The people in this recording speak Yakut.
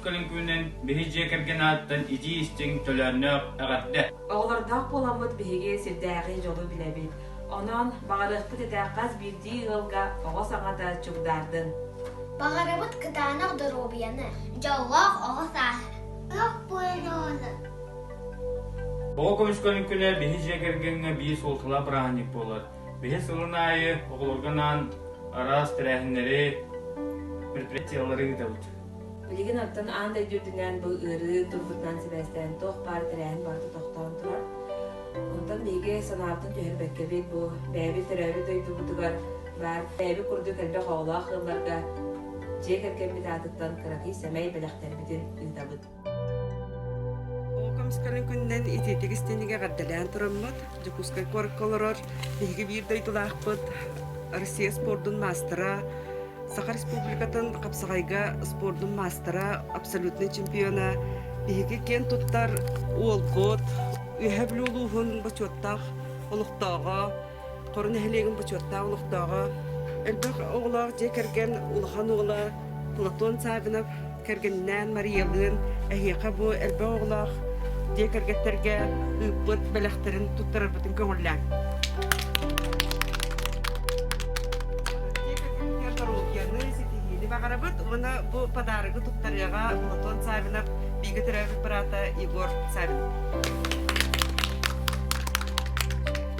көлүн күнүнэн биһи дьиэ кэргэн ааттан итии истиҥ төлөөннөөх эҕэрдэ. Оҕолордоох буоламмыт биһиги сирдээҕи дьолу билэбит. Онон баҕарыахпыт этэ хас биирдии ыалга оҕо саҥата чугдаардын. Баҕарабыт кытаанах доруобуйаны, дьоллоох оҕо сааһы. Оҕо көмүскэл күнэ биһи дьиэ кэргэҥҥэ биир суолталаах бырааһынньык буолар. Биһи сылын аайы оҕолорго анаан араас тэрээһиннэри, предприятиелары ыытабыт. Билигин оттон аан дойду үрдүнэн бу ыарыы турбутунан сибээстээн туох баар тэрээһин барыта тохтоон турар. Онтон биһиги санаабытын түһэрбэккэбит бу бэйэбит төрөөбүт дойдубутугар баар. Бэйэбит курдук элбэх оҕолоох ыалларга дьиэ кэргэммит аатыттан кыракый сэмэй бэлэхтэрбитин ыытабыт. Комсканы күннэн итиитик истинигэ гардалаан тураммыт, Дьокуускай куоракка олорор биһиги биир дойдулаахпыт Россия спордун маастара, Саха Республикатын Хапсаҕайга спордун маастара, абсолютный чемпиона, биһиги киэн туттар Уолгот, Үөһэ Бүлүү улууһун бочуоттаах олохтооҕо Хору нэһилиэгин бочуоттаах олохтооҕо, элбэх оҕолоох дьиэ кэргэн улахан уола Платон Савинов кэргэнинээн Мариялыын эһиэхэ бу элбэх оҕолоох дьиэ кэргэттэргэ ыыппыт бэлэхтэрин туттарарбытын көҥүллээҥ. хирургияны, ситиһиини баҕарабыт уонна бу подарогу туттарыаҕа Платон Савинов бигэ төрөөбүт быраата Егор Савинов.